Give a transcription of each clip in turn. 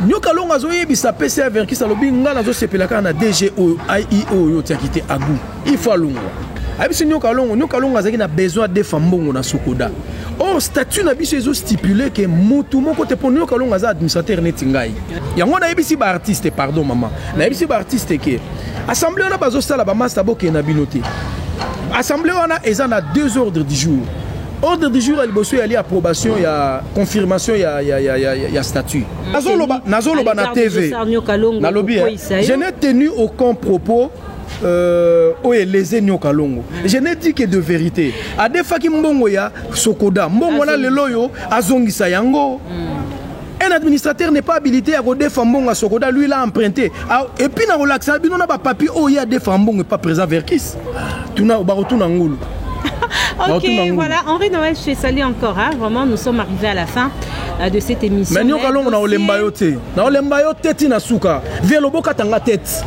nyoka longo azoyebisa pc ya verkis alobi ngai nazosepela kaka na dg oyo ie oyo otiaki te agu ifo alongwa ayebisi nyoka longo nyoka longo azalaki na besoin adefa mbongo na sokoda or oh, statut na biso ezo stipule ke motu moko te mpo nyoka longo aza administrateur neti ngai yango nayebisi baartiste pardon mama nayebisi baartiste ke assemble wana bazosala bamasta bokende na bino te assemble wana eza na deux ordres du jour Ordre du jour ya liboso yali approbation ya confirmation ya, ya, ya, ya, ya statut. Mm. Nazoloba, nazoloba na TV. Nalobi, hein. je n'ai tenu aucun propos euh, oyo eleze nioka longo mm. je n'ai dit que de vérité adefaki mbongo ya sokoda mbongo wana lelo oyo azongisa yango mm. Un administrateur n'est pas habilité ya kodefa mbongo ya sokoda lui l'a emprunté ah, et puis nakolakisa bino na bapapier oyo ye adefa mbongo epa président verkis tuna bakotuna ngulu ok, voilà, Henri Noël, je te salue encore. Hein. Vraiment, nous sommes arrivés à la fin euh, de cette émission. Mais nous, nous, na olemba yo te. Na olemba yo te tina suka. Velo boka tanga tête.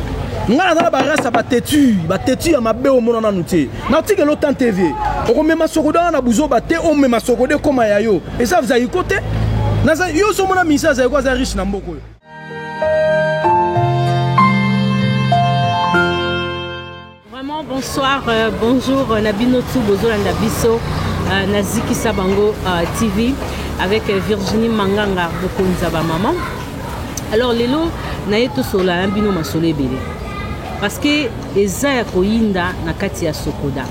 Nga na ba rasa ba têtu, ba têtu ya mabe o mona nanu te. natikela otante vie okomema sokoda wana na buzoba te omema sokoda ekoma ya yo eza zaiko te naza yo ozomona minisa zaiko aza riche na mboka oyo vraiment bonsoir euh, bonjour euh, na bino tu bozolanda biso euh, na zikisa bango euh, tv avec euh, virginie manganga bokonza bamama alors lelo naye tosolola na bino masolo ebele Parce que eza ya koyinda na kati ya Sokoda.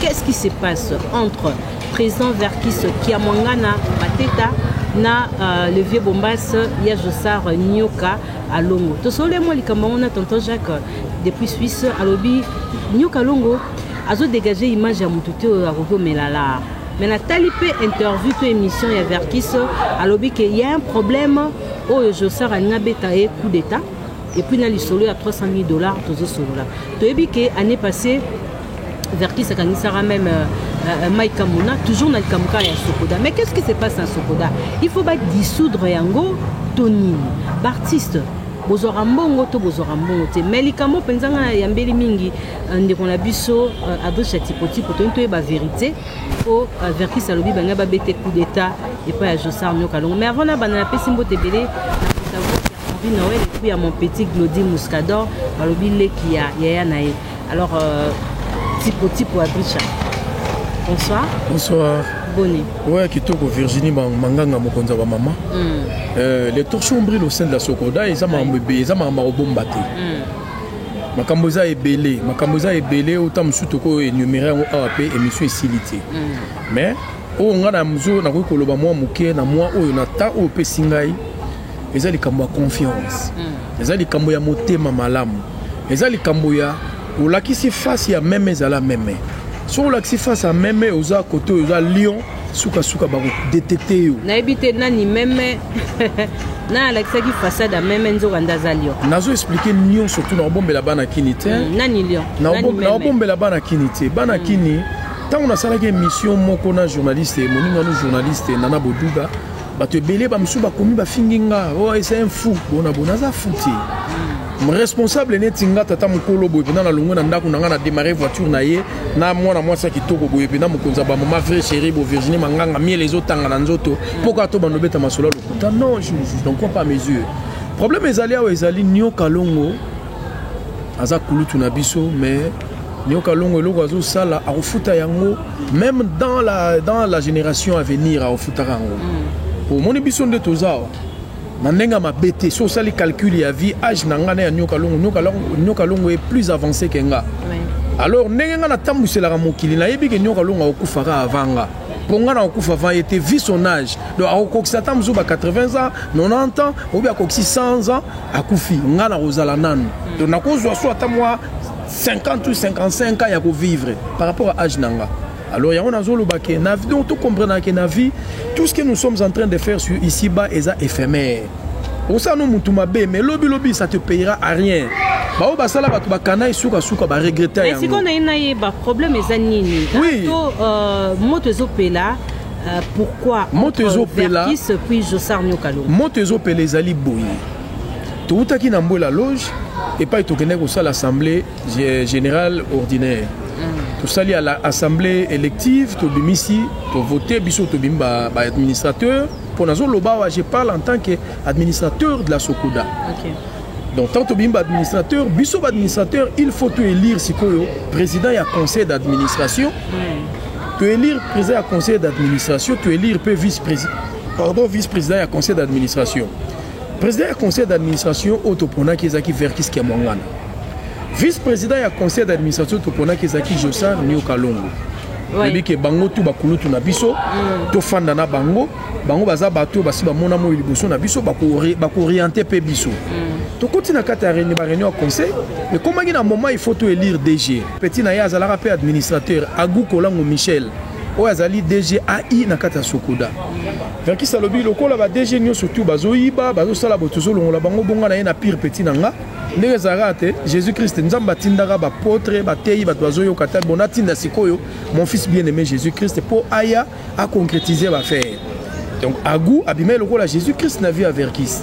Qu'est-ce qui se passe entre président Verkis Kiamwangana Mateta na euh, le vieux Bombas ya Josar Nyoka Alongo. Tosole mwa likambo yango na tonton Jacques depuis Suisse alobi Nyoka Alongo azo dégager image ya motu te oyo akoki omela laa mais natali mpe interview to émission ya verkis alobi ke ya un problème oyo josar alingi abeta ye coup d'état Et puis na lisolo ya 300 000 dollars tozo solola. Toyebi ke année passée Verkis akangisaka même euh, euh, Mike Kamuna toujours na likambo kaka ya Sokoda. Mais qu'est-ce qui se passe na Sokoda? Il faut ba dissoudre yango to nini? Ba artistes bozwaka mbongo to bozwaka mbongo te mai likambo mpenza ngai nayambeli mingi euh, ndeko na biso euh, adriche ya tipotipo toyini toyeba verité po euh, verkis alobi balinga babete coup d'état epai ya josar nioka longo mais avant nabanda napesi mbote ebele Henri Noël et puis à mon petit Glody Muscador, balobi leki ya yaya na ye. Alors euh, tipo tipo Abricha. Bonsoir. Bonsoir. Bonne. Ouais, kitoko Virginie Manganga mokonza wa maman. Mm. Euh, les torchons brillent au sein de la Sokoda, ils ont ma mbebe, ils ont ma maman au bombaté. Mm. makambo eza ebele makambo eza ebele ota mosusu tokoyo enumere yango awa mpe émission esili te mm. mais oyo ngai na mozo nakoki koloba mwa moke na mwa oyo na temps oyo opesi ngai eza likambo ya confiance mm. eza likambo ya motema malamu eza likambo ya olakisi face ya meme ezala meme soki olakisi face ya meme oza kote oyo oza lion suka suka bako detecte yo nayebi te nani meme na alakisaki façade ya meme nzoka nde aza lion nazo explike lion surtout naobombela bana kini te mm, nani lion naobombela bana kini te bana mm. kini ntango nasalaki émission moko na journaliste moninga no journaliste nana boduga Bato ebele ba mosusu bakomi bafingi nga oh, eza un fou bona bona aza fou te hmm. responsable neti nga tata mokolo boye mpenza nalongwe na ndako na ngai na démarre voiture na ye na mwana mwasi ya kitoko boye mpenza mokonzi ya bamama vrai chéri bo virginie manganga miele ezotanga na nzoto hmm. mpo kaka to bando obeta masolo ya lokuta non je n'en crois pas mesure problème ezali awa ezali nioka longo aza kulutu na biso mais nioka longo eloko azosala akofuta yango meme dans la, dans la génération à venir aofutaka yango mm. omoni biso nde toza awa na ndenge ya mabe te so osali calcul ya vie age na ngai na ya nyoka longo nyoka longo est plus avancé ke nga alors ndenge ngai natambuselaka mokili nayebi ke nyoka longo akokufaka avant nga mpo ngai nakokufa avant ye te vie son âge donc akokokisa ata mosusu ba 80 ans 90 ans obi akokisi 100 ans akufi ngai nakozala nanu mm. donc nakozwa so ata mwa 50 ou 55 ans ya ko vivre par rapport à âge nanga alors yango nazoloba ke na vie donc tokomprena ke na vie tout ce que nous sommes en train de faire sur ici bas eza éphémère osala no motu mabe mais lobilobi ça te payera à rien baoyo basala bato bakana ye sukasuka baregrete yango naye nayeba problème eza nini oui. to euh, moto ezopela euh, pourquoi moto ezopela moto ezopela ezali boye Towutaki na Mbuela Loge epai tokendaki kosala assemblee générale ordinaire. Mm. Tosali ala assemblee élective, tobimisi, tovote biso tobimi ba, ba administrateur mpo nazoloba awa je parle en tant que administrateur de la Sokoda. Okay. donc ntango tobimi baadministrateur biso baadministrateur il faut toélire sikoyo président ya conseil d'administration mm. toélire président ya conseil d'administration toélire mpe vice président pardon vice président ya conseil d'administration President ya conseil d'administration oyo toponaki ezalaki Verkis Kiamwangana. Vice-president ya conseil d'administration toponaki ezalaki Josar Nio Kalongo. oyebi ke bango tu bakulutu na biso mm. tofanda na bango bango baza bato oyo basi bamona moi liboso na biso bakooriente mpe biso mm. tokoti na kati ya reni bareunion ya conseil ekomaki na moment il faut to elire dg petit na ye azalaka mpe administrateur agu kolango michel oyo azali DG AI na kati ya Sokoda. Verkis alobi lokola ba DG nyonso tu bazoyiba, bazosala boye tozolongola bango bonga na ye na pire petit na nga ndenge ezalaka te jésus christ nzambe atindaka bapotre bateyi bato bazoyoka te bon atinda sikoyo mon fils bien aimé jésus christ mpo aya aconcrétise bafere donc agu abimai lokola jésus christ na vie ya verkis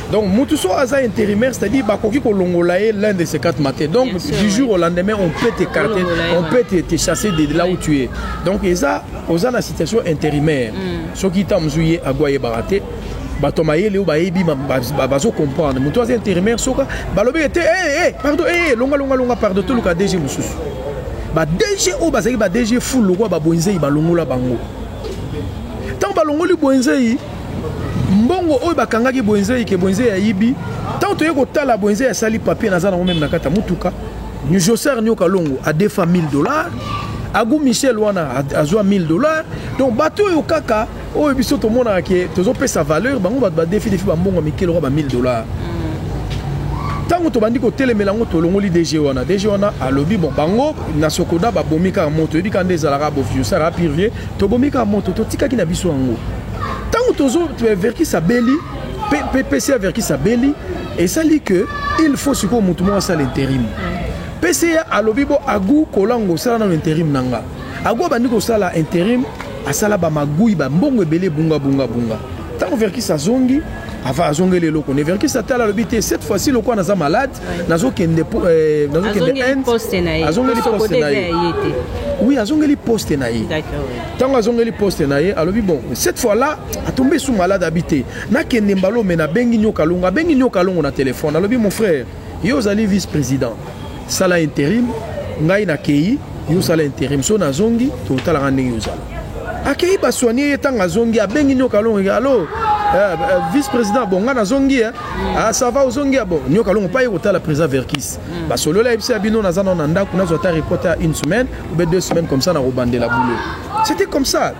Donc mutu so aza intérimaire, c'est-à-dire bakoki kolongola ye l'un de ces quatre matins. Donc Bien sûr, du jour au lendemain, on peut t'écarter, Kolongola ye, on ouais. peut te, te chasser de, de là où tu es. Donc eza oza na situation intérimaire. Soki ta mzuye agwa ye barate. bato mayele oyo bayebi ba- ba- ba- bazocomprendre moto aza intérimaire soka balobi ete "Eh, eh, pardon eh, eh, longa longa longa pardon toluka dg mosusu ba dg oyo bazalaki ba dg ful lokola babonzei balongola bango ntango balongoli bwenzei mbongo oyo bakangaki bwenze ike bwenze ya yibi ntango toye kotala bwenze ya sali papier naza nango meme na kati ya motuka joser nioka longo adefa 1000 dollars agu michel wana azwa 1000 dollars donc bato oyo kaka oyo biso tomonaka ke tozopesa valeur bango bato badefi defi bambongo ya mikele oka ba 1000 dollars ntango tobandi kotelemela yango tolongoli dg wana dg wana alobi bon bango na sokoda babomi kaka moto oyebi kaka nde ezalaka bofiosaka pirvie Tobomi kaka moto, totikaki na biso yango. Ntango tozo Verkis abeli, PCA Verkis abeli, esali que il faut sikoyo moto moko asala interim. PCA alobi bo agu kolango osala nano interim na nga. Agu abandi kosala interim, asala ba magui, ba mbongo ebele bunga bunga bunga. Ntango Verkis azongi, ava azongeli eloko ne Verkis ata alobi te cette fois-ci lokola naza malade nazokende eh, nazokende azongeli poste na ye oui azongeli poste na ye ntango azongeli poste na ye alobi bon cette fois là atombe su malade abi te nakende mbala ome nabengi nyoka longo abengi nyoka longo na telefone alobi mon frère ye ozali vice président sala interim ngai nakei yo osala interim so nazongi totalaka ndenge ozala akei basoigne ye ntango azongi abengi nyoka longo alo eh, eh, vice président bon ngai nazongi eh. Ah, ça va ozongi ya bo nyoka longo paye kotala président verkis mm. basolola yebisa ya bino naza nao na ndako nazwa ata reporte ya une semaine obe deux semaines comme ça nakobandela boulot c'était comme ça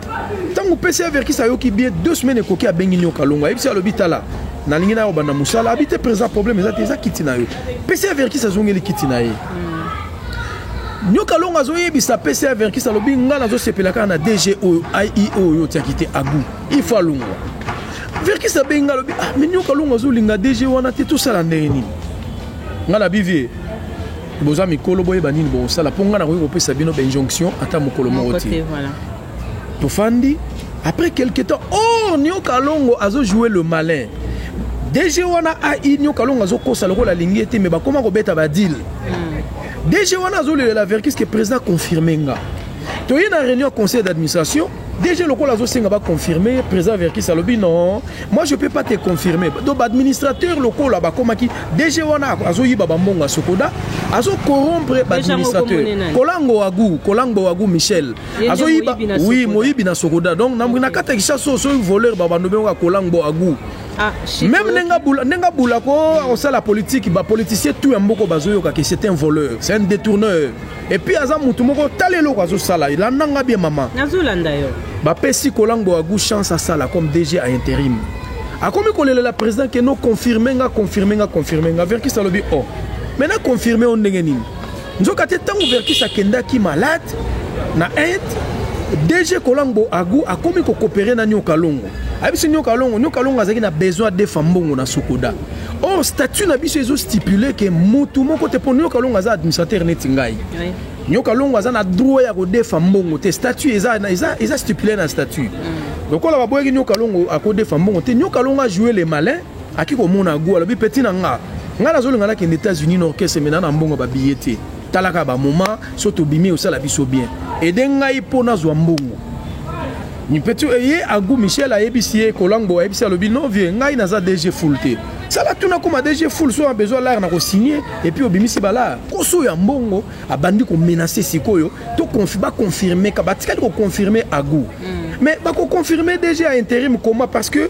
ntango pesi ya verkis ayoki bien deux semaines ekoki abengi nyoka longo ayebisi alobi tala nalingi nayo banda mosala abi te président problème eza te eza kiti na yo pesi ya verkis azongeli kiti na ye mm. nyoka longo azoyebisa pesi ya verkis alobi ngai nazosepela kaka na dg oyo aio oyo otiaki te agu il faut alongwa verkis abengi nga alobi ah, minio kalunga azolinga dg wana te tosala ndenge nini nga na bivie boza mikolo boyeba nini bokosala mpo nga nakoki kopesa bino bainjonction ata mokolo moko te tofandi après quelque temps oh nio kalongo azojoue le malin dg wana ai nio kalongo azokosa lokola alingi ye te me bakoma kobeta badile hmm. dg wana azolelela verkis ke président confirme nga toye na réunion conseil d'administration DG lokola azosenga ba confirmer président Verkis alobi non moi je peux pas te confirmer donc administrateur lokola bakomaki DG wana azoyiba bambongo ya sokoda azo corrompre administrateur kolango wagu kolango wagu Michel azoyiba oui moyibi na sokoda donc na na kata kisaso so voleur babando benga kolango wagu Ah, même nenga bula nenga bula ko osala politique ba politicien tout ya mboko bazoyoka que c'est un voleur c'est un détourneur Et puis aza mutu moko tala eloko azo sala landa nga bien mama nazo landa yo ba pesi kolango agu chance asala comme DG à intérim akomi kolelela président ke no confirme nga confirme nga confirme nga verkis alobi o oh. me na confirme o ndenge nini nzoka te ntango verkis akendaki malade na inde dg kolangbo agu akomi kokopere na nioka longo ayebisi nioka longo nioka longo azalaki na besoin adefa mbongo na sokoda or statut na biso ezo stipule ke mutu moko te mpo nioka longo aza administrateur neti ngai nioka longo aza na droit ya kodefa mbongo te statut eza, eza, eza stipule na statut mm. lokola baboyaki nioka longo akodefa mbongo te nioka longo ajoue le malin aki komona go alobi peti na nga ngai nazolinga nakende états-unis na orchestre mena na mbongo babiye te talaka bamoma so tobimi osala biso bien ede ngai mpo nazwa mbongo Nipetu eye agu Michel ayebisi ye kolangbo ayebisi alobi non vieux ngai naza DG full te sala tuna kuma DG full so besoin l'art na ko signer et puis obimisi bala koso ya mbongo abandi ko menacer sikoyo to confi ba confirmer ka batikali ko confirmer agu mm. mais ba ko confirmer DG à intérim comment parce que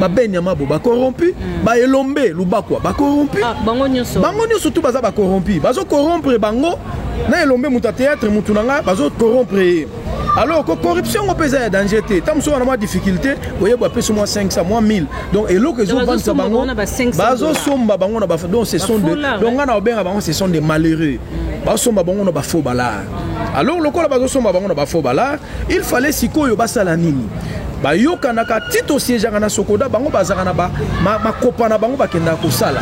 ba ben yamabo ba corrompu mm. ba elombe lubakwa ba corrompu ah, bango nyonso bango nyonso tu baza ba corrompu bazo corrompre bango na elombe moto ya théâtre motu na ngai bazo corrompre ye alors ko corruption ngo mpe eza ya danger te ntango mosusu wana mwa difficulté oyeba apesi mwa 500 mwa 1000 donc eloko ezobandisa bango bazosomba bango na ba donc ce sont de donc ngai na obenga bango ce sont des malheureux mm. basomba bango na bafaux balare alors lokola bazosomba bango na bafaux balare Il fallait sikoyo basala nini? Bayokanaka ti tosiejaka na Sokoda bango bazaka na ba ma, makopa na bango bakendaka kosala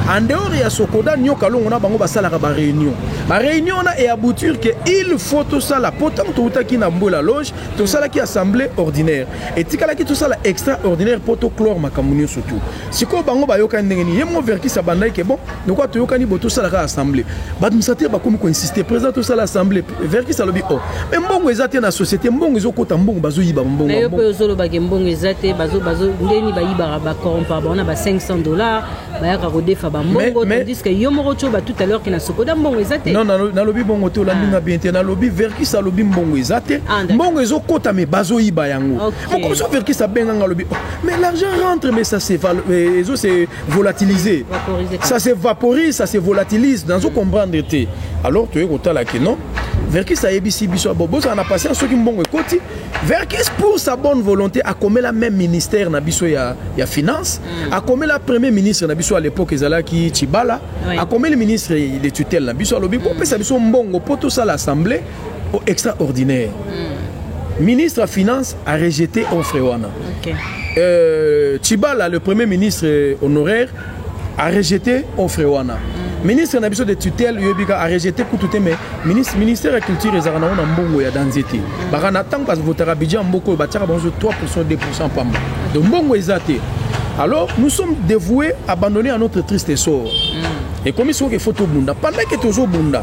en dehors ya Sokoda nyoka longo na bango basalaka ba réunion ba réunion na e aboutir que il faut tosala po ntango toutaki na Mbola Loge tosalaki assemblée ordinaire etikalaki tosala extraordinaire po toclore makambo nyonso tout sikoyo bango bayokani ndenge nini ye moko verkis abandaki ke bon lokola toyokani bo tosalaka assemblée baadministrateur bakomi koinsiste président tosala assemblée verkis alobi o oh, me mbongo eza te na société mbongo ezokota mbongo bazoyiba mbongoyo mpe ozolobake mbongo eza te ndeni bayibaka bacorompa bango na ba 500 dollars bayaka kodefa bambongo tandiske yo moko tio batout à l'heure ke na sokoda mbongo eza te non nalobi bongo te olandinga ah. bien te nalobi verkis alobi mbongo eza te ah, mbongo ezokota me bazoyiba yango moko mosusu verkis abenga nga alobi oh, mais l'argent rentre mais ça se euh, ezo se volatiliser ça se vaporise ça se volatilise nazo comprendre te alors toye kotala ke non verkis ayebisi biso ah, bozala na patience soki mbongo ekoti verkis pour sa bonne volonté akomela même ministère na biso ya, ya finance mm. akomela premier ministre na biso à l'époque ezalaki chibala oui. akomeli ministre de tutelle na biso alobi mm. bopesa biso mbongo mpo tosala assemblée oh, extraordinaire mm. ministre ya finance a rejete offre wana okay. euh, chibala le premier ministre honoraire a rejete offre wana mm. ministre na biso de tutelle yebika a rejete kutu te mais ministre, ministère ya culture ezalaka nango na mbongo ya danze te mm. baka na ntango bavotaka budget ya mboka oyo batiaka bango 3 2 pamba donc mbongo eza te alors nous sommes dévoués abandonnés à notre triste sort mm. ekomisi oke fo tobunda pendant ke tozobunda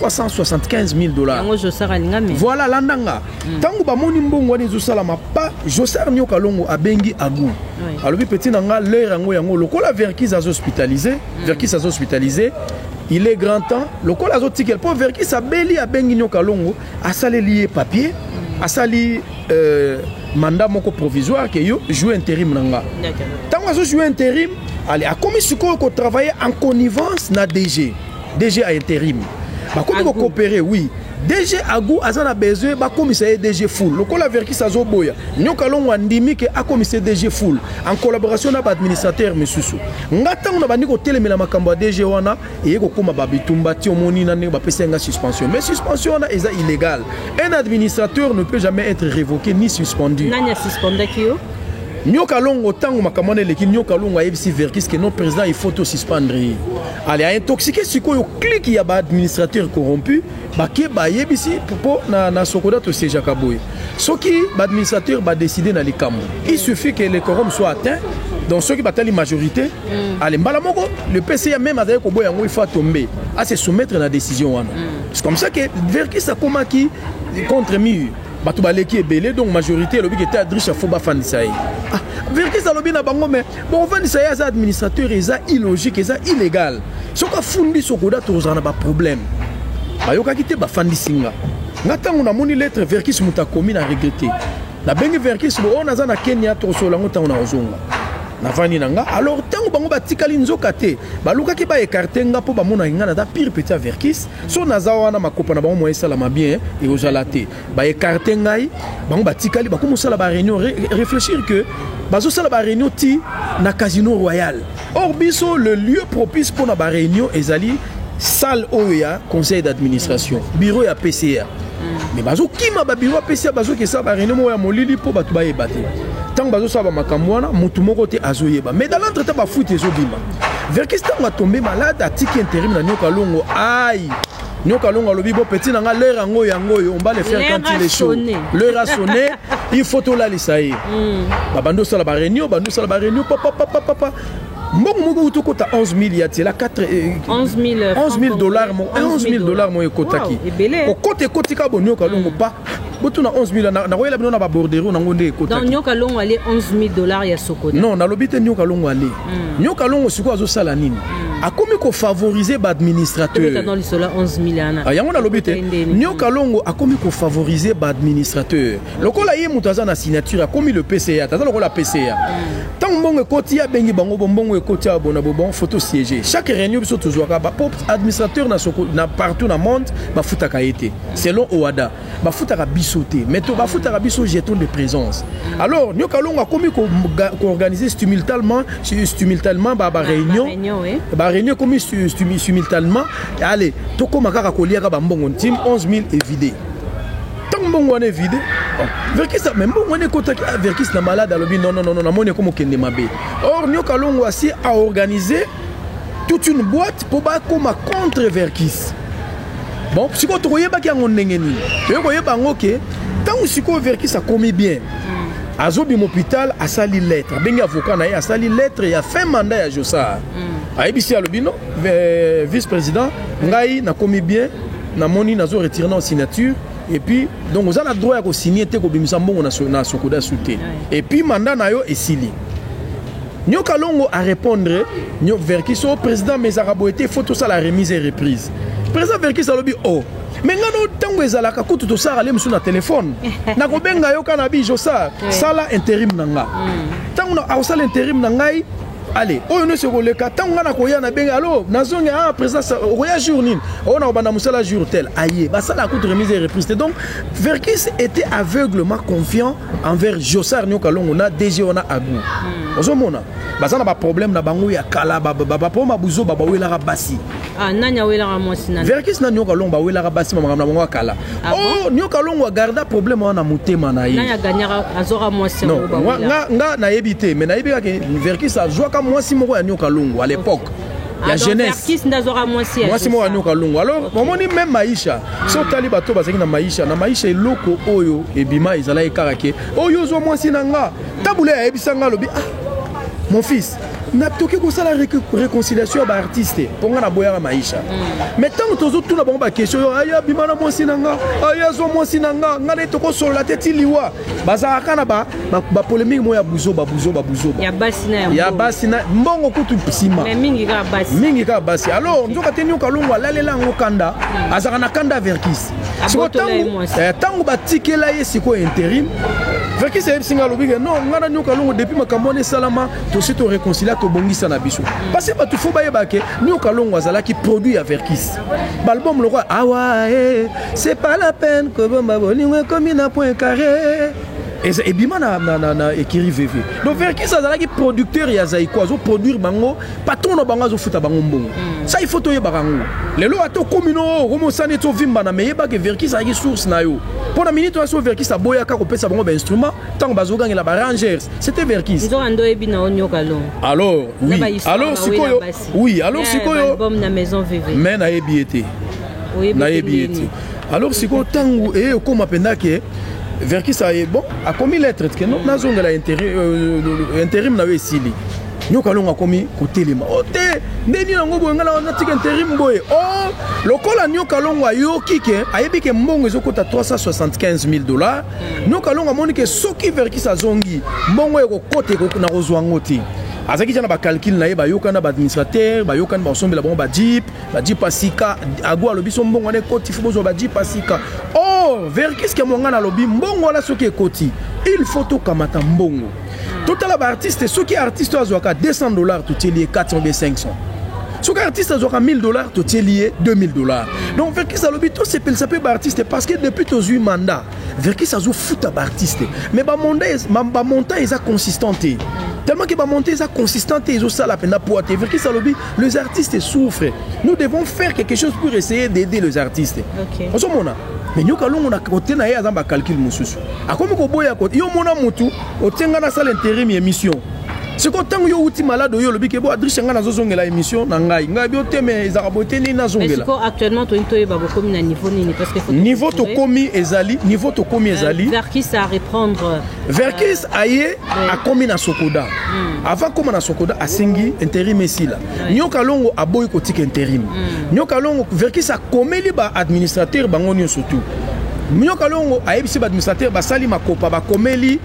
375000 dollars yango josar alinga me voilà landa nga ntango mm. bamoni mbongo wana ezosalama pa josar nioka longo abengi agu oui. alobi peti na nga l'heure yango yango lokola verkis azo hospitalise mm. verkis azo hospitalise il est grand temps lokola azotikela mpo verkis abeli abengi nioka longo asaleli ye papier mm. asali euh, mandat moko provisoire ke yo joue interim na nga ntango azojoue interim ale akomi sikoyo kotravaille en connivence na dg DG a interim. Bakomi ko coopérer, oui. DG Agou aza na besoin bakomisa ye DG Full. Lokola Verkis azoboya, Nyoka Longo andimi ke akomisa ye DG Full en collaboration na ba administrateurs misusu. Nga tango na bandi kotelemela makambo ya DG wana eye kokoma ba bitumba ti omoni na ndenge bapesa nga suspension. Mais suspension wana eza illégal. Un administrateur ne peut jamais être révoqué ni suspendu. Nani a suspendaki yo? Nyoka Longo tango makambo wana eleki Nyoka Longo ayebisi Verkis ke non président il faut to suspendre ye. Allez, a intoxiqué sikoyo clique ya ba administrateur corrompu bake bayebisi mpo na, na sokoda tosejaka boye soki baadministrateur badeside na likambo il suffit que le quorum soit atteint donc soki batali majorité mm. ale mbala moko le pca même azali koboya yango il faut atombe ase soumettre na décision wana mm. c'est comme ça que verkis akomaki contre mur bato baleki ebele donc majorité elobi ke te adriche afo bafandisa ye ah, verkis alobi na bango mais Bon, ofandisa ye aza administrateur eza illogique eza illégal soki afundi sokoda tokozala na baproblème bayokaki te bafandisi nga nga ntango namoni lettre verkis moto akomi na regrete nabengi verkis bo oyo oh, naza na kenya tokosolola yango ntango nakozonga navandi na nga alors ntango bango batikali nzoka te balukaki baekarte nga mpo bamonaki nga naza pire petit ya verkis so naza wana makopa na bango moya esalama bien ekozala te ba écarter ngai bango batikali bakomi kosala ba réunion re, réfléchir que bazosala ba réunion ti na casino royal or biso le lieu propice mpo na ba réunion ezali salle oyo ya conseil d'administration bureau ya pca mais bazokima babiro ya pca bazoki esala ba réunion moko ya molili mpo bato bayeba te ntango bazosala ba makambo wana motu moko te azoyeba mais dans l'entre temps bafuti ezobima verkis ntango atombe malade atiki interim na nioka longo ai Nyoka longo alobi bo petit na nga l'heure yango yango yo on va le faire quand il est chaud. L'heure a sonné, il faut tout lalisa ye. Hmm. Ba bando sala ba réunion, bando sala ba réunion papa papa papa. mbongo moko uti okota 11000 ya tiela 11000 dollars 11000 dollars moyo ekotaki okota ekotika bonioka longo pa botuna 11000 nakoyela bino na babordero nango nde ekotakinioka longo ale 11000 dollars ya sokoda non nalobi te nioka longo ale Mm. Nyoka longo sikoyo azosala nini? Mm. Akomi ko favoriser ba administrateurs. Tobeta dans sola 11000 ana. Ah, yango nalobi te. Nyoka longo akomi ko favoriser ba administrateurs. Lokola ye moto aza na signature akomi le PCA, aza lokola PCA. Mm. Tango mbongo ekoti abengi bango bo mbongo ekoti ya bona bo bon photo siège. Chaque réunion biso tozwaka ba pop administrateur na soko na partout na monde bafutaka ye te selon OADA. bafutaka biso te mais to bafutaka biso jeton de présence alors nyoka longo akomi koorganiser stimultalement stimultalement ba réunion ba réunion ekomi stimultalement allez tokóma kaka koliaka bambongo ntime 11 000 evide ntango mbongo wana evide verkis mais mbongo wana ekotaki ah, verkis na malade alobi non non non namoni ekomi okende mabe or nyoka longo asi aorganiser toute une boîte mpo bakóma contre verkis bon sikoyo tokoyebaki yango ndenge nini toye koyeba yango ke ntango sikoyo verkis akomi bien mm. azobima hôpital asali lettre abengi avocat na ye asali lettre ya fin mandat ya josar mm. ayebisi alobi no vice président ngai nakomi bien namoni nazo retire na signature et puis donc oza na droit ya kosigne te kobimisa mbongo na sokoda su te et puis mandat na yo esili Nyoka longo a repondre Nyok Verkis o oh, president mais ezalaka boye te il faut tosala remise et reprise. President Verkis alobi o oh, me ngai no ntango ezalaka kutu tosala le mosusu na telefone nakobenga yo kana bijo sa sala interim na nga ntango hmm. akosala interim na ngai ale oyo nyonso ekoleka ntango ngai nakoya na benge alo nazongi a ah, présidence okoya jour nini oyo oh, nakobanda mosala jour tel aye basalaka kutu remise et reprise te donc verkis était aveuglement confiant envers Jossar Nyoka Longo na DG wana Agu. Hmm. Ozomona baza na ba problème na bango ya kala ba ba ba poma buzo ba bawelaka basi. Ah nani awelaka mwasi nani? Verkis na Nyoka Longo bawelaka basi makambo na bango ya kala. Ah oh Nyoka Longo garda problème wana na motema na ye. Nani aganyaka azoka mwasi yango ba. Non nga nga nayebi te mais nayebi kaka Verkis azwaka mwasi moko ya Nyoka Longo à l'époque. Okay. ya ah, jeunesse mwasi moko anyoka longo alors omoni meme maisha so otali bato oyo bazalaki na maisha na maisha eloko oyo ebima ezalaki kaka ke oyo oh, ozwa mwasi na nga tabule ayebisa nga alobi ah mon fils natoki kosala réconciliation ya baartiste mpo ngai naboyaka maisha mm. mais ntango tozotuna bango bakestion yo aya bima na mwasi na nga aya azwa mwasi na nga ngai naye tokosolola te ti liwa bazalaka kaka na ba, ba, ba polemique moko ya buzoba buzoba buzoba ya basi na ya ya basi na mbongo kutu nsima mais mingi kaka basi mingi kaka basi alors nzoka te nyoka longo alalela yango kanda hmm. azalaka na kanda verkis sikoyo ntango eh, ntango batikela ye sikoyo interim verkis ayebisi ngai alobi ke non ngai na nyoka longo depuis makambo wana esalama tosi toreconcilia tobongisa na biso hmm. parce bato fo bayeba ke nyoka longo azalaki produit ya verkis baalbum lokola awa eh, C'est pas la peine kobomba bolingo ekomi na point carré ebima na, na, na, na ekiri veve donc verkis azalaki producteur ya zaiko azoproduire bango patron na bango azofuta bango mbongo mm. sa ifo toyebaka yango lelo ata okomi no okomi osani eti ovimbana me yebake verkis azalaki source na yo mpo na minute wana so verkis aboyaka kopesa bango bainstrument ntango bazogangela barangers c'était verkis alors oui alors sikoyo oui alors sikoyo me nayebi ye te nayebi ye te alors sikoyo ntango eye okóma mpenza ke verkis aye bon akomi lettre tike no nazongela euh, interim na yo esili nyoka alongo akomi kotelema o oh, te nde nini yango boye ngai nawana tika interim boye o oh, lokola nyoka alongo ayoki ke ayebi ke mbongo ezokota 375 000 dollars hmm. nyoka alongo amoni ke soki verkis azongi mbongo ekokota na kozwa yango te azalaki ja na bacalcule na ye bayokani na baadministrateur bayokani bakosombela bango bajeep bajipa sika ago alobi so mbongo wana ekoti fo bozwa bajipa sika o oh, verkiske mwanga nalobi mbongo wana soki ekoti il faut tokamata mbongo totala baartiste soki artiste oyo azwaka 200 dollars totieli ye 400 be 500 soki artiste azwaka 1000 dollars totieli ye 2000 dollars donc verkis alobi tosepelisa mpe baartiste parce que depuis tozwi mandat verkis azofuta baartiste mais bamontant eza consistant te tellement ke bamontant eza consistant te ezosala mpenza poa te verkis alobi les artistes souffrent nous devons faire quelque chose pour essayer d'aider les artistes okay. ozomona mais nyoka longo na kote na ye aza bacalcule mosusu akomi koboya kote yo omona motu otienga nasala interim émission sikoyo ntango yo outi malade oyo olobi ke bo adriche ngai nazozongela émission na ngai ngai bio te mais ezalaka boye te nini nazongela actuellement toyini toyeba bokomi na niveau nini parce que niveau tokomi ezali niveau tokomi ezali euh, verkis a reprendre euh, verkis aye akomi na sokoda mm. avant akoma na sokoda asengi interim esila oui. nyoka longo aboyi kotika interim mm. nyoka longo verkis akomeli ba administrateur bango nyonso tu nyoka longo ayebisi ba administrateur basali makopa bakomeli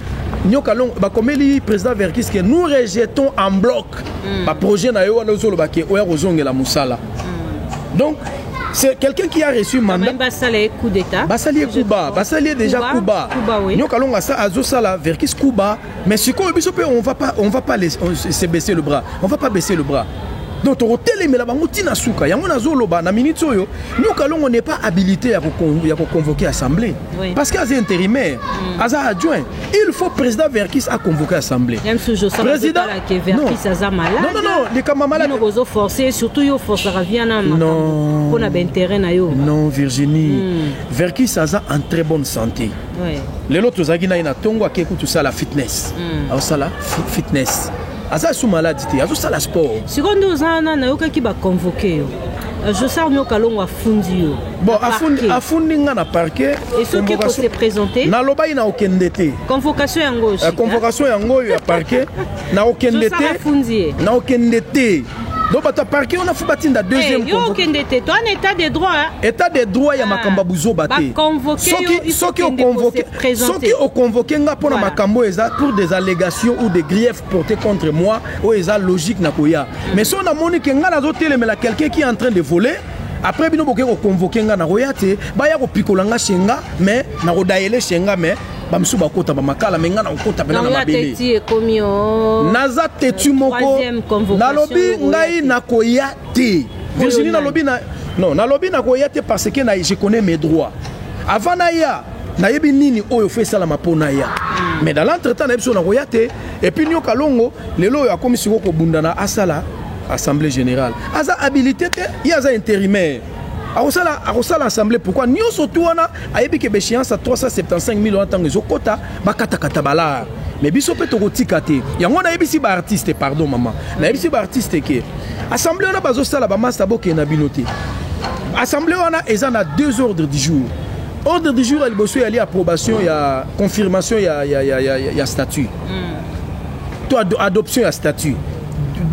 nyoka longo bakomeli président verkis ke nous rejetons en bloc mm. baprojet na yo wana ozoloba ke oya kozongela mosala mm. donc c'est quelqu'un qui a reçu mandat basala ye coup d'état basali ye kuba basali ye déjà kuba nyoka longa sa azosala verkis kuba mais sikoyo biso mpe on va pas on va pas les, on, se baisser le bras on va pas baisser le bras donc tokotelemela bango ntina suka yango nazoloba na minute oyo nyoka longo n'est pas habilité ya koconvoke assemblée oui. parce que aza intérimaire mm. aza adjoint il faut président verkis aconvoke assemblée président likambo ya maladeozoforce surtout yo forcaka via na makambo mpo na baintérêt na yo non virginie hmm. verkis aza en très bonne santé lelo tozalaki na ye na ntongo akei kutu sala fitness hmm. aosala fitness aza su maladi te azosala sport sikoyo nde oza wana nayokaki baconvoke yo josar nio kalongo afundi yo bon afundi, afundi nga na parquet et soki ekose présente nalobaki na okende te convocation yango oyo eh, convocation yango oyo ya parquet na okende te na okende te donc bato ya parquet wana fo batinda eh, deuxième yo okende te to an état de droit état de droit ya ah, makambo ya buzoba te soki oconvoke soki oconvoke nga mpo na makambo oyo eza pour des allégations ou des griefs portés contre moi oyo eza logique na koya mais soki namoni ke nga nazotelemela quelqu'un qui est en train de voler après bino boke koconvoke nga nakoya te baya kopikola nga chez nga mais nakodayele chez nga mais bamosusu bakota bamakala me ngai nakokota mpena na mabele naza teti moko nalobi ngai nakoya te virginie nalobi na non nalobi nakoya te parce que je connais mes droits avant naya nayebi nini oyo fo esalama mpo naya mais dans l'entretemps nayebi so nakoya te epuis nioka longo lelo oyo akomi sikoyo kobundana asala assemblée générale aza habilité te ye aza intérimaire akosala akosala assemblée pourquoi nyonso tu wana ayebi ke béchéance ya 375 000 wana ntango ezokota bakatakata balare mais biso mpe tokotika te yango nayebisi baartiste pardon mama nayebisi baartiste ke assemblée wana bazosala bamasta bokende na bino te assemblée wana eza na deux ordres du jour Ordre du jour ya liboso eyali approbation ya confirmation ya, ya, ya, ya, ya statut mm. to ad adoption ya statut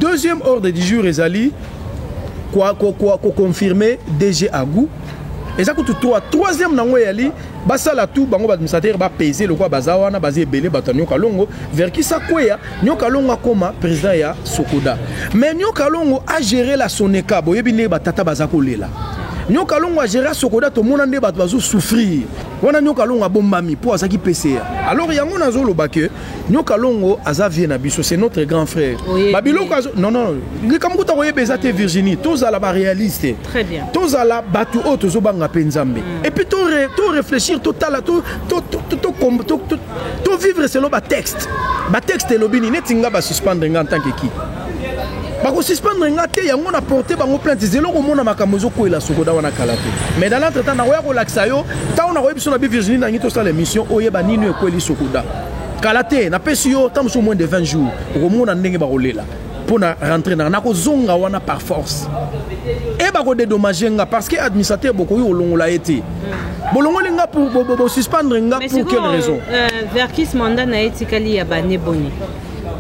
deuxième ordre du jour ezali koconfirme dg agou eza kutu 3 troisième nango eyali basala tu bango baadministrateur bapese lokola baza wana baza ebele bato ya nioka longo verkisa kweya Nyoka Longo akoma president ya Sokoda. Mais Nyoka Longo a gérer la Soneka. Boyebi nde batata baza kolela. Nyoka Longo a gérer Sokoda tomona nde bato bazo souffrir. Wana Nyoka Longo abombami po azaki PCA. Alors yango nazo loba que Nyoka Longo aza vie na biso, c'est notre grand frère. Ba biloko azo non non, likambo kuta koyeba eza te Virginie, tozala ba réaliste. Très bien. Tozala bato oyo tozobanga pe Nzambe. Mm. Et puis to, re, to réfléchir, totala, to to to to, to, to, to to vivre selon ba texte ba texte elobi nini neti nga ba suspendre nga en tant que qui bakosuspendre nga te yango na porte bango plainte zelo komona makambo ezokwela sokoda wana kala te mais dans l'entre temps nakoya kolakisa yo ntango nakoyebi biso na bi virginie nangi tosala émission oyeba nini ekweli sokoda kala te napesi yo ntango mosusu moins de 20 jours okomona ndenge bakolela mpo na rentre nanga nakozonga wana par force e bakodedommage nga parce que administrateur bokoki kolongola ye te bolongoli nga bosuspendre nga pour quelle euh, raison euh, verkis mandat na ye etikali ya bane boni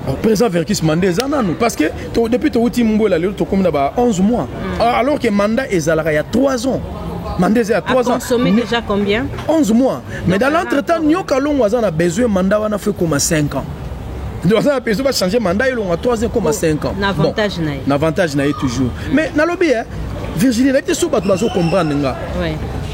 oh, président verkis manda eza nanu parce que to, depuis towuti mbwela lelo tokomi na ba 11 mois mm. Ah, alors que mandat ezalaka ya 3 ans mandat eza ya 3 ans consommé déjà combien 11 mois mais dans l'entretemps nyoka longo aza na besoin mandat wana fo ekoma 5 ans nde baza na besoin bachange mandat elonga 3 ekoma 5 ans na avantage na ye toujours mais nalobi e eh, virginie nayebi te so bato bazo comprendre nga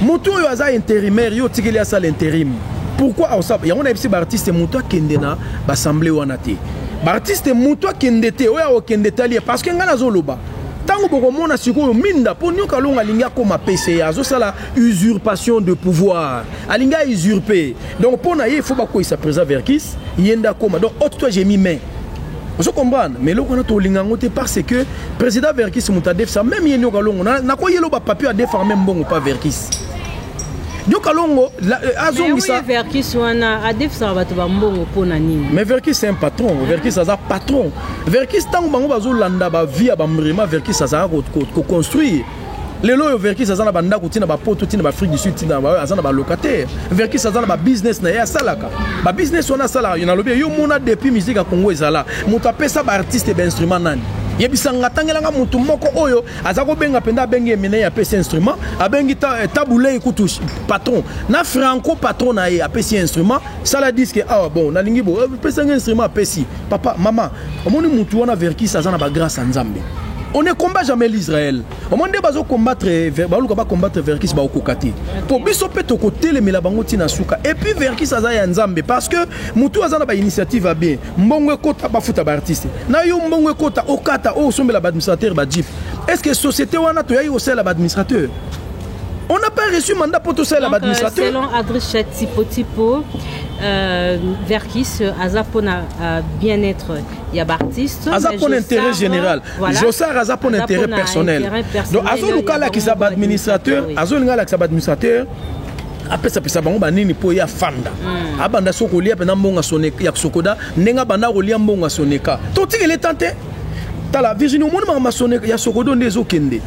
moto oyo aza intérimaire yo otikeli asala intérim pourquoi aosala yango nayebisi baartiste moto akende na baassemble wana te baartiste moto akende te oyo akokende etali ye parce que ngai nazoloba ntango bokomona sikoyo minda mpo nioka longo alingi akoma pca azosala usurpation de pouvoir alingi a usurpe Donc pona ye il faut bakweyisa president Verkis ye nde akoma donc haute toi j'ai mis main ozo comprendre mais eloko wana tolinga yango te parce que président Verkis moto adefisa même ye nioka longo nakoyela ba papier adefaka même mbongo pa Verkis nioka longo euh, azongisa Verkis wana adefisaka bato bambongo mpo na nini mais Verkis c'est un patron Verkis aza patron Verkis ntango bango bazolanda bavie ya bamrema Verkis azalaka koconstruire lelo oyo verkis aza na bandako ntina bapoto ntina baafrique du sud ntina aza na balocataire verkis aza na babusiness na ye asalaka babusiness wana asalaka yo nalobi yo mona depuis musique ya congo ezala moto apesa baartiste bainstrument nani yebisa nga tangelanga motu moko oyo aza kobenga mpenza abengi eminei apesi instrument abengi eh, tabulei kutu patron na franco patron na ye apesi instrument sala diske awa ah, bon nalingi bo eh, pesanga instrument apesi papa mama omoni mutu wana verkis aza na bagrâce ya nzambe on ne combat jamais l'israël omoni nde bazo combattre baluka ba combattre verkis baokoka te po biso mpe tokotelemela bango ntina suka epuis verkis aza ya nzambe parce que motu aza na bainitiative ya bien mbongo ekota bafuta baartiste na yo mbongo ekota okata oyo osombela baadministrateur bajip est ce que société wana toyaki kosalela baadministrateur On n'a pas reçu mandat pour tout ça, la administrateur. Selon Adricha Tipo Tipo, euh, Verkis, euh, Aza pour euh, bien-être il y a artiste aza pour l'intérêt général voilà. Jossard aza pour l'intérêt personnel. intérêt personnel donc azo lukala ki saba administrateur azo lingala ki saba administrateur apesapesa bango banini mpo ye afanda hmm. abanda so kolia mpenza mbongo ya sokoda ndenge abanda kolia mbongo ya soneka totikele tan te tala virginie omoni makambo masone ya sokodo nde ezokende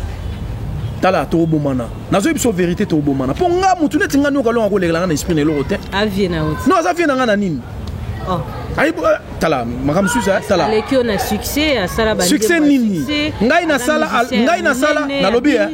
tala tokobomana nazoyi biso verité tokobomana mpo nga motu neti nga nioka longa kolekela nga na esprit na eloko te avie na oti non aza vie na nga na nini oh. ayi euh, tala makambo mosusu eh, tala aleki yo na succès asala succès nini ngai nasala ngai nasala nalobi eh.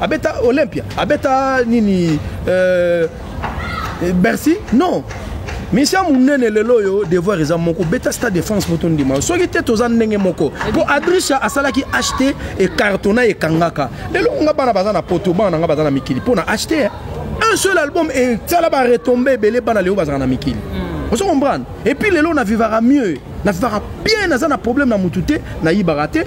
Abeta Olympia, abeta nini euh, Bercy Non misia monene lelo oyo devoir eza moko beta stade de france mpo tondima soki te toza ndenge moko mpo adrisha asalaki acheter ecartona ekangaka lelo nga bana baza na poto bana na nga baza na mikili mpo na acheter un seul album esala baretombe ebele bana lelo bazala na mikili hmm. ozo comprendre epuis lelo na vivaka mieux na vivaka bien naza na problème na motu te nayibaka te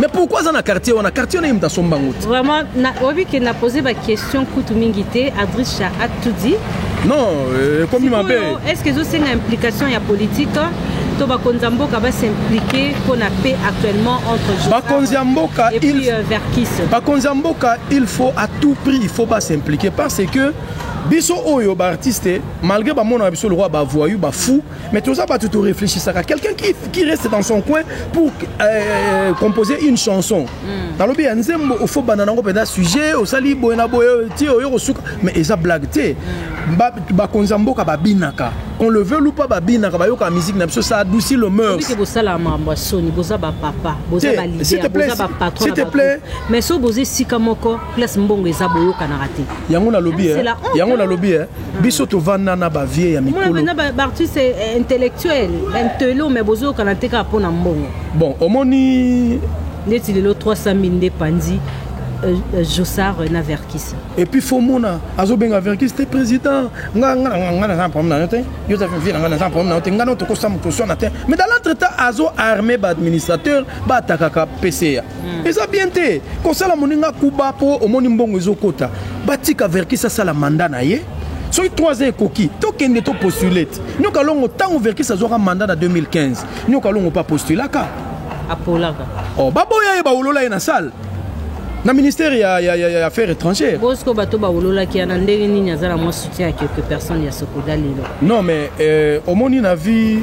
mais pourquoi aza na quartier wana quartier wana ye moto asomba yango te vraiment oyebi ke na pose baquestion kutu mingi te adrisha atudi non euh, ekomi mabe est ce que ezosenga implication ya politique to bakonzi ya mboka basimplike mpo na paix actuellement entre bakonzi ya mboka euh, bakonzi ya mboka il faut à tout prix il faut basimplike parce que biso oyo baartiste malgré bamonaka biso lokola bavoyu bafou Mais toza batu to réfléchissaka quelqu'un qui, qui reste dans son coin pour euh, composer une chanson mm. nalobi ya nzembo ofo banda nango mpenza sujet osali boye na boye ti oyo kosuka mais eza blague te mm. bakonzi ya mboka babinaka qu'on le veut ou pas babinaka bayoka musique na biso ça adouci le mœurs que bosala mambo soni boza ba papa boza ba leader boza ba patron s'il te plaît mais so boza esika moko place mbongo eza boyokanaka te yango nalobi yango nalobi biso tovanda na bavie ya mikolobaartiste eh, eh, intellectuel intelo mais bozoyokana te kaka mpo na mbongo bon omoni ndeti lelo 300 000 nde panzi Euh, euh, Jossard euh, na Verkis. Et puis faut mona azo benga Verkis te président nga nga nga nga na problème na te yo ta vie nga na problème na te nga no to ko sam ko sona te mais dans l'entretemps azo armé ba administrateur ba takaka PCA Hmm. eza bien te kosala moninga kuba mpo omoni mbongo ezokota batika verkis asala manda na ye soki 3 ans ekoki tokende to postulate nioka longo ntango verkis azwaka manda na 2015 nioka longo mpe apostulaka apolaka oh, baboya ye bawolola ye na salle na ministère ya, ya, ya, ya affaires étrangères bosiko bato bawololaki ya na ndenge nini aza na mwa soutien ya quelque personne ya sokoda lelo non mais euh, omoni na vie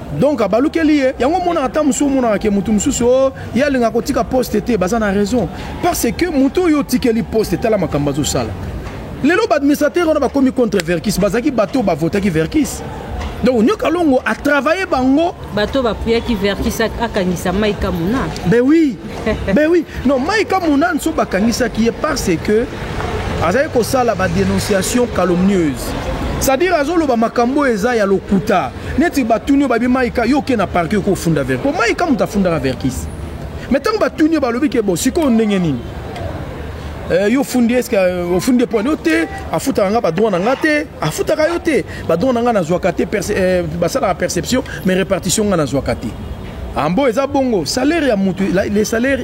Donc abalukeli ye yango omonaka ata mosusu omonaka ke motu mosusu o oh, ye alingaka kotika poste te baza na raison parce que motu oyo otikeli poste tala makambo azosala lelo baadministrateur wana bakomi contre verkis bazalaki bato oyo bavotaki verkis donc nyoka longo atravaille bango bato bapuyaki verkis akangisa maika mona ben oui ben oui non maika mona nso bakangisaki ye parce que azali kosala badénonciation calomnieuse c'est-à-dire azoloba makambo eza ya lokuta Neti ba tuni yo ba bi Maïka yo oke na parquet ko funda verre. Po Maïka muta fundaka verkis. Mais tango ba tuni yo ba lobi ke bo siko ndenge nini? Euh, yo fundi eske euh, ofundi epo yo te afutaka nga badroit na nga te afutaka yo te badroit na nga nazwaka te euh, basalaka perception mais répartition nga nazwaka te ambo eza bongo salaire ya motu les salaire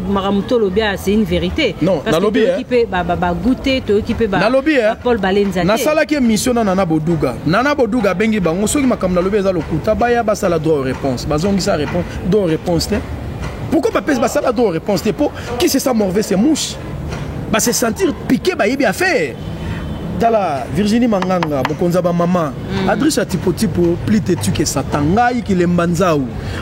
makambo tolobi aya c'est une vérité non nalobi toyoki mpe bagute toyoki mpe nalobi paul balenza nasalaki émission na nana boduga nana boduga abengi bango soki makambo nalobi eza lokuta baya basala droit réponse bazongisa réponse droit réponse te pourquoi bapesi basala droit réponse te mpo qui se sent morve se mouche base sentir piqué bayebi affaire tala virginie manganga mokonzi ya bamama Mm. Adresse ya tipo tipo plus têtu que Satan ngai kilemba nzau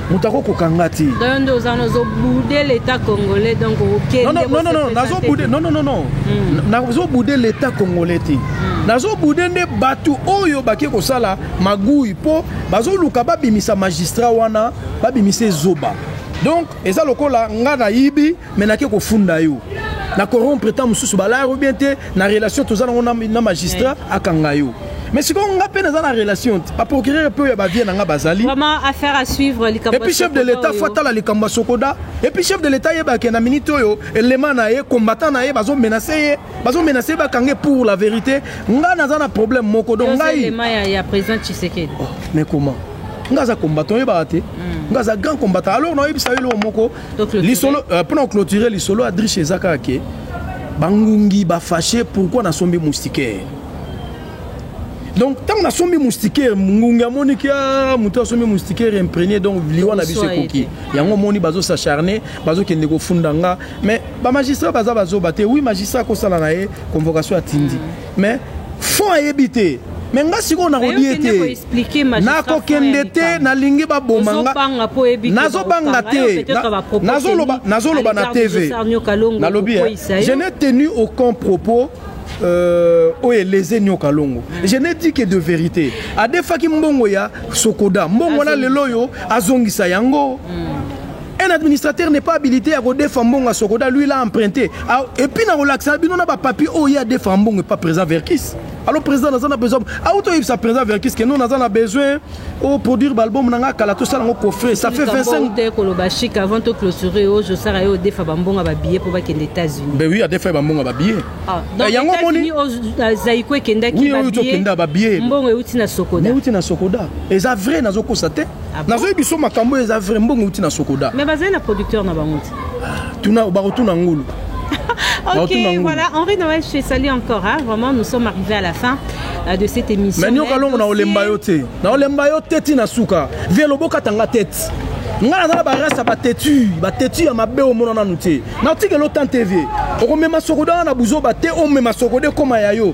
moto akokoka nga te donc nde oza nozoboude l'état congolais donc okendenonono nazoboude non non non non mm. nazoboude l'état congolais te mm. nazoboude nde bato oyo bake kosala magui mpo bazoluka babimisa magistrat wana babimisa ezoba donc eza lokola nga nayibi mais nake kofunda yo na corrompre ntango mosusu balaya yo bien te na relation toza nango na magistrat akanga yo mais sikoyo nga mpe naza na relation te baprocureur mpe oyo ya bavie na nga bazali epuis chef de l'état fo atala likambo ya sokoda epuis chef de l'état yebake na minute oyo elema na ye combattant na ye bazomenase ye bazomenase ye bakanga ye pour la vérité nga naza na problème moko donc ngai oh, mais comment nga aza combattant oyebaka te hmm. nga aza grand combattant alors naoyebisa yo eloko moko lisolo euh, pona clôturer lisolo adriche eza kaka ke bangungi bafashe pourkui nasombi moustiquaire donc ntango nasombi moustiquaire ngungi amoni ke ah, moto asombi moustiquaire imprégné donc liwa na biso ekoki yango omoni bazosacharne bazokende kofunda nga mais bamagistrat baza bazoba te wi magistrat akosala na ye convocation atindi Mais fond ayebi te me nga sikoyo nakolie te nakokende te nalingi baboma nga nazobanga te nazoloba na tv nalobi eh, je n'ai tenu aucun propos euh, oyo eleze nioka longo je n'ai dit que de vérité adefaki mbongo ya sokoda mbongo wana lelo oyo azongisa yango mm. Un administrateur n'est pas habilité ya kodefa mbongo ya sokoda lui l'a emprunté ah, et puis nakolakisa bino na bapapier oyo ye adefa mbongo epa président verkis alors président naza na besoin auto oyebisa président verkis ke non naza na besoin oproduire baalbum na ngai kala tosala yango coffre ça fait 25 koloba chic avant to clôturer oyo josara ye odefa bambongo ya babillet mpo bakende états-unis ben oui adefa ye bambongo ya babillet ah, eh, yango omoni euh, zaiko ekendaki mbongo euti na sokoda euti na sokoda eza vrai nazokosa te Ah bon? nazoyebi biso makambo oyo eza vrai mbongo euti na sokoda mais bazali na producteur na bango te tuna bakotuna ngulu ok Bakotuna ngulu. voilà henri noël je te salue encore hein. vraiment nous sommes arrivés à la fin euh, de cette émission mais nioka longo na dossier- olemba yo te na olemba yo te ti na suka vie lobokata nga tete nga naza na barasi ya bateti bateti ya mabe omona nanu te natikela otante vie okomema sokoda wana na buzoba te omema sokoda ekoma ya yo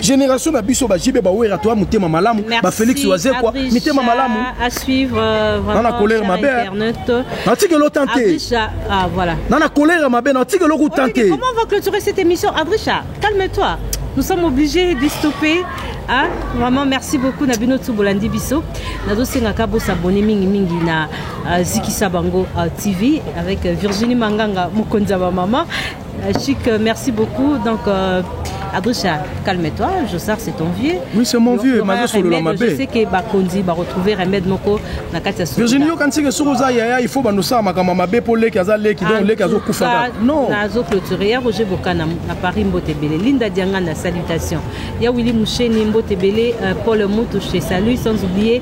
Generation na biso ba JB ba Werra toi mutema malamu ba Felix Wazekwa mitema malamu à suivre euh, vraiment na colère mabe na tiki lo tenter ah voilà na na colère mabe na tiki lo tenter comment on va clôturer cette émission Adricha calme-toi nous sommes obligés de stopper ah vraiment merci beaucoup na bino tout bolandi biso nazo senga ka bo s'abonner mingi mingi na euh, Zikisa Bango euh, TV avec Virginie Manganga mokonza ba maman Euh, Chic, euh, merci beaucoup. Donc, euh, Adricha, calme-toi, je sais que c'est ton vieux. Oui, c'est mon vieux, ma vieux solo ma Je sais que Bakondi va retrouver remède moko na kati ya Virginie yo kanti que soko za yaya il faut ba nosa makama mabe po leki aza leki donc leki azo kufa. Non. Na zo clôturer ya Roger Bokana na Paris Mbotebele. Linda Diangana salutation. Ya Willy Moucheni Mbotebele, euh, Paul Mutu chez Salut sans oublier